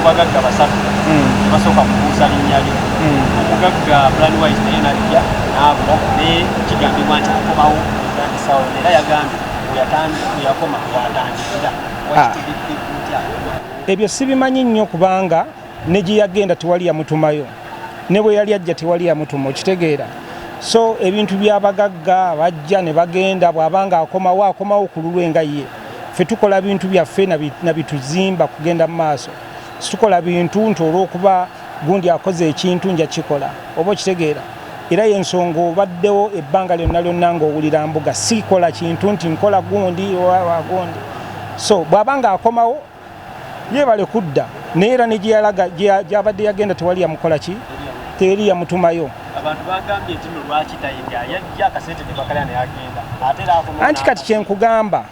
bagagga basatu tebasooka hmm. kubuusa linnya lyo hmm. omugagga planwise naye najja naabula naye kigambibwa nti akomawo etandisawo era yagambye yakoma watandikira ah. ebyo sibimanyi nnyo kubanga ne gye yagenda tewali yamutumayo ne bwe yali ajja tewali yamutuma okitegeera so ebintu byabagagga bajja ne bagenda bw'abanga akomawo akomawo ku lulwe nga ye ffe tukola bintu byaffe nabituzimba kugenda mu maaso situkola bintu nti olwokuba gundi akoze ekintu nja kikola oba okitegeera era yensonga obaddewo ebbanga lyonna lyonna ngaowulira mbuga sikola kintu nti nkola gundi owagundi so bwaba nga akomawo yebale kudda naye era ne gyeyalaga gyabadde yagenda tewali yamukola ki teri yamutumayo anti kati kyenkugamba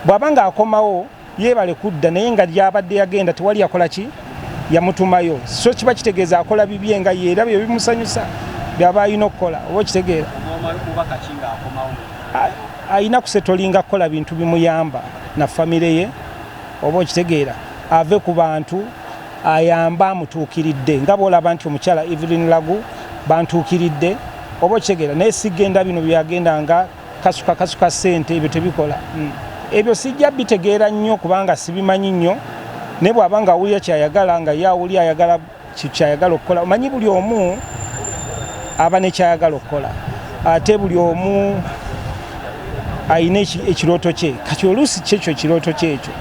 bw'aba nga akomawo yebale kudda naye nga gyabadde yagenda tewali yakola ki yamutumayo so kiba kitegeeza akola bibye nga yeera byo bimusanyusa byaba alina okukola oba okitegeera alina kusetolinga kukola bintu bimuyamba na famire ye oba okitegeera ave ku bantu ayamba amutuukiridde nga bwolaba nti omukyala evelyn lagu bantuukiridde oba okitegeera naye sigenda bino byagenda nga kasuka kasuka sente ebyo tebikola hmm. ebyo sijja bitegeera nnyo kubanga sibimanyi nnyo naye bwaba nga awulira kyayagala nga ye awuli ayagala kyayagala okukola omanyi buli omu aba nekyayagala okukola ate buli omu alina ekirooto kye kati oluusi kyekyo ekirooto kyekyo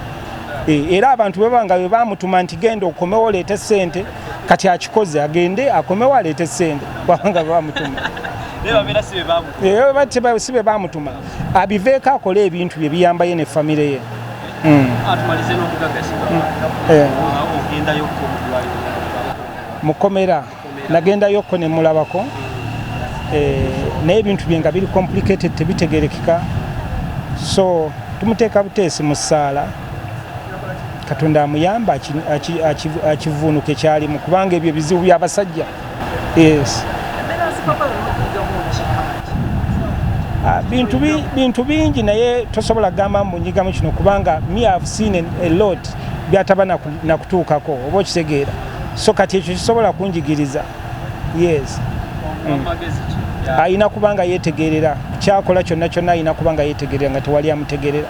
eh, era abantu bwe banga bwe bamutuma nti genda okomewo oleete sente kati akikoze agende akomewo aleete sente bwabanga bwe bamutuma eh, si be bamutuma abiveeko akole ebintu bye biyambaye ne famire ye mm. atumalize n'omugagasi mm. eh. ogendayokko mukomera nagendayokko ne mulabako mm. eh, naye ebintu bye nga biri complicated tebitegerekeka so tumuteeka buteesi mu ssaala katonda amuyamba akivuunuke kyalimu kubanga ebyo bizibu byabasajja yes. Ah, bintu bintu bingi naye tosobola gamba mbunyigamu kino kubanga me have seen a lot byataba nakutuukako oba okitegeera so kati ekyo kisobola kunjigiriza yes mm. ayina kubanga yetegerera kyakola kyonna kyonna ayina kubanga yetegerera nga tewali amutegerera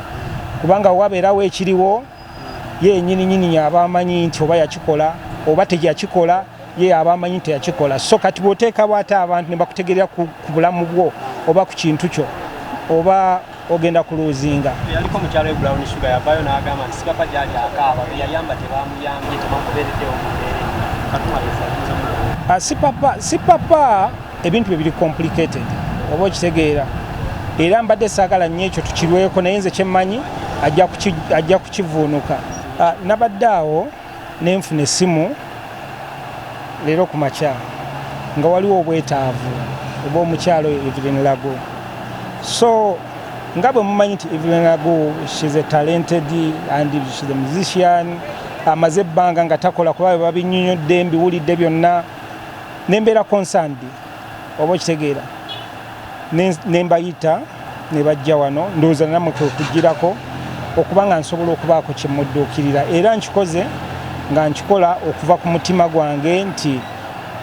kubanga wabeerawo ekiriwo ye yenyini nyini yaba amanyi nti oba yakikola oba teyakikola ye yaba amanyi nti yakikola so kati bwoteekawo ate abantu ne bakutegerera ku bulamu bwo oba ku kintu kyo oba ogenda ku luuzinga sipapa ah, ebintu bye biri complicated oba okitegeera era mbadde saagala nnyo ekyo tukirweko naye nze kyemmanyi ajja kukivuunuka ah, nabadde awo ne nfuna essimu leero ku makya nga waliwo obwetaavu oba omukyalo evelyn lago so nga bwe mumanyi nti evelyn lago shes a talented and shes a musician amaze ebbanga nga takola kuba bebabinyonyodde mbiwulidde byonna nembeera concerned oba okitegeera nembayita nebajja wano ndowooza namwe kwekugirako okuba nga nsobola okubaako kyemudduukirira era nkikoze nga nkikola okuva ku mutima gwange nti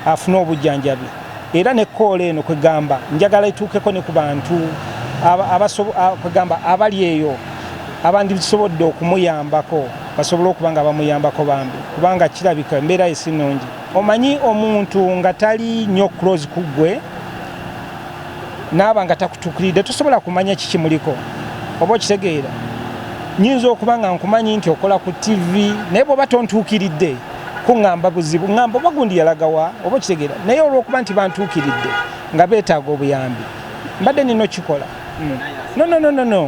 afune obujjanjabi era ne koola eno kwegamba njagala etuukeko ne ku bantu kwegamba abali eyo abandisobodde okumuyambako basobole okuba nga bamuyambako bambi kubanga kirabika embeera ye si nnungi Omanyi omuntu nga tali nyo close kugwe naaba nga takutukiridde tosobola kumanya kikimuliko oba okitegeera nyinza okuba nga nkumanyi nti okola ku TV naye bwoba tontuukiridde kuŋamba buzibu ŋamba oba gundi yalagawa oba okitegeera naye olwokuba nti bantuukiridde nga beetaaga obuyambi mbadde nina okikola hmm. no no no no no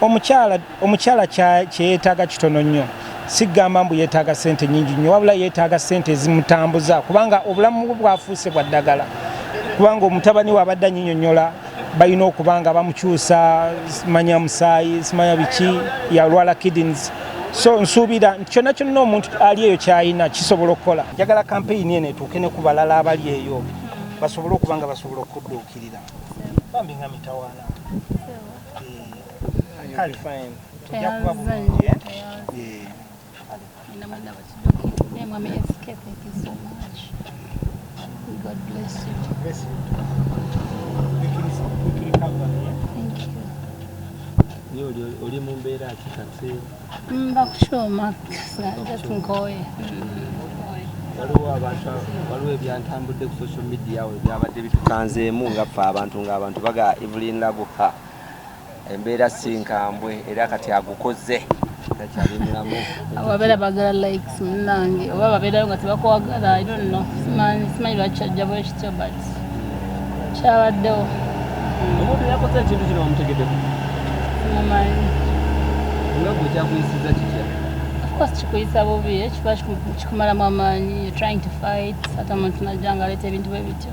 omukyala Omukyala kye yeetaaga kitono nnyo, si kugamba mbu yeetaaga ssente nnyingi nnyo, wabula yeetaaga ssente ezimutambuza kubanga obulamu bwe bwafuuse bwa ddagala, kubanga omutabani we abadde anyinyonnyola balina okuba nga bamukyusa manya musaayi simanya biki yalwala kidneys so nsuubira nti kyonna kyonna omuntu ali eyo kyalina kisobola okukola njagala kampeyini eno etuuke ne ku balala abali eyo basobole okuba nga basobola okudduukirira bambi nga mitawaana oli mu mbeera ki kati mbakukyoma just nkoye waliwo abantu waliwo ebyantambudde ku social media we byabadde bitukanzeemu nga ffe abantu ng'abantu baga evelyn labuha embeera si nkambwe era kati agukoze takyali mulamu ababeera bagala likes munange oba babeerayo nga tebakwagala i don't know simanyi lwaki kyajja bwe kityo but kyabaddewo omuntu yakoze ekintu kino wamutegedeko simumanyi nga gwe kyakuyisiza kitya course kikuyisa bubi eh, kiba kikumalamu amaanyi trying to fight ate omuntu najja nga aleeta ebintu bwe bityo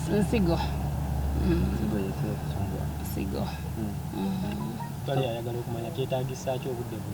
nsigo nsigo mm. mm. mm. twali ayagala okumanya kyetagisaki obudde